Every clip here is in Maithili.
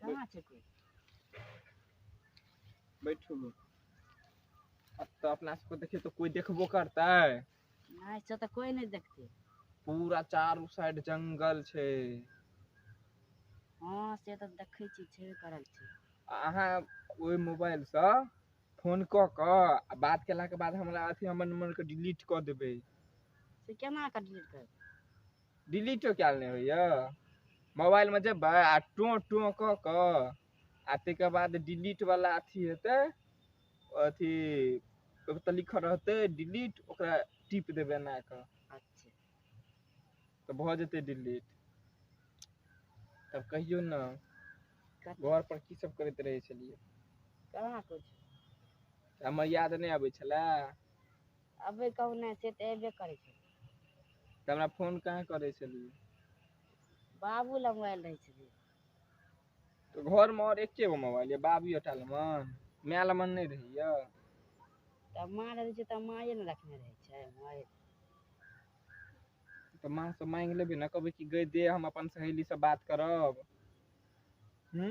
कहाँ छै कोइ बैठू ने अब तो अपना सबको देखिए तो कोई देखबो करता है नहीं से तो कोई नहीं देखते पूरा चारू साइड जंगल छे हाँ से तो देखे छी छे करल छी अहाँ ओहि मोबाइल से फोन क के आ बात केला के बाद हमरा अथी हमर नंबर के डिलीट क देबे से केना कर डिलीट कर डिलीटो कयल नहि होइए मोबाइलमे जेबै आ टोँ टोँ कऽ कऽ आ ताहिके बाद डिलीटवला अथी हेतै अथी ओहिपर तऽ लिखल रहतै डिलीट ओकरा टिप देबै एना कऽ अच्छा तऽ भऽ जेतै डिलीट तब कहियौ ने कथी घरपर की सब करैत रहै छलियै कहाँ कुछ हमर याद नहि अबै छलए अबै कहू ने से तऽ अयबे करै छै तऽ हमरा फोन कहाँ करै छलियै बाबू लग मोबाइल रहै छलै तऽ घर मे आओर एके गो मोबाइल य बाबीए टा लग माय लग नै रहैया तऽ माँ रहै छै तऽ माँए ने रखने रहै छै माँए तऽ माँ सँ माँगि लेबै ने कहबै कि गय दे हम अपन सहेली सँ बात करब हूँ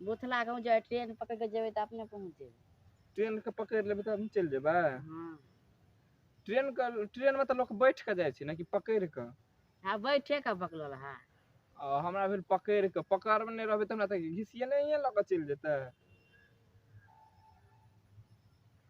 बोथला गाँव जाए ट्रेन पकड़ के जेबे तऽ अपने पहुँच जेबे ट्रेन के पकड़ लेबे तऽ हम चल जेबे हाँ ट्रेन के ट्रेन में तऽ लोग बैठ के जाए छै ना कि पकड़ के हाँ बैठे के बकलोल है आ हमरा भेल पकड़ के पकड़ में नहीं रहबे तऽ हमरा तऽ घिसिए नहीं लग चल जेते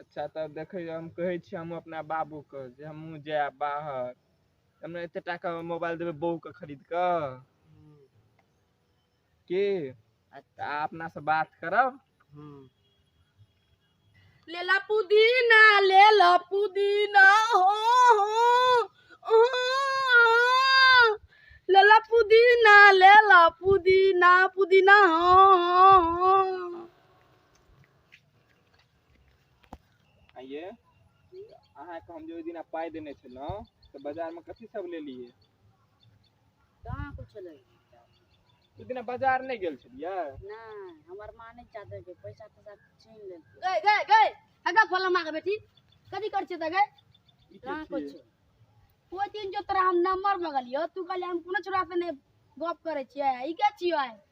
अच्छा तऽ देखैयौ हम कहै छी हमहूँ अपना बाबूके जे हमहूँ जायब बाहर हमरा एते टाका मे मोबाइल देबै बौके खरीद कऽ की अच्छा आ अपना से बात करब लेला पुदीना लेला पुदीना हो हो ओ, लेला पुदीना लेला पुदीना पुदीना हो हो हो आइये अहाँके हम जे ओहि दिना पाइ देने छलहुँ तऽ बाजारमे कथी सब लेलियै कहाँ कुछो ले ओहि दिना बाजार नहि गेल छलियै नहि हमर माँ नहि चाहते कि पैसा तैसा छीन लेलकै गए गए गए हगा फल माँ के बेटी कथी कर छे गए ई के कहाँ छियै? कुछो ओहि दिन जो तोरा हम नंबर मंगलियो तू कहले हम कोनो छोरा से ने गप करे छिए ई क्या छियो आय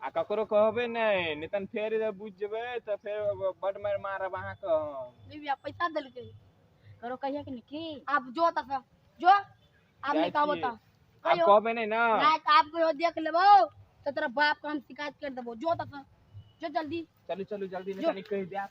आ ककरो कहबै नहि नहि तहन फेर जे बुझि जेबै तऽ फेर बड मारि मारब अहाँके हम लिबिया पैसा देलकै करो कहिया कि की आब जो तक जो आब जाइ निकाबो छी। त आब कहबै नहि ने रात आप को देख लेबो तो तेरा बाप का हम शिकायत कर देबो जो तक जो जल्दी चलू चलू जल्दी नहि जो। कनी कहि देब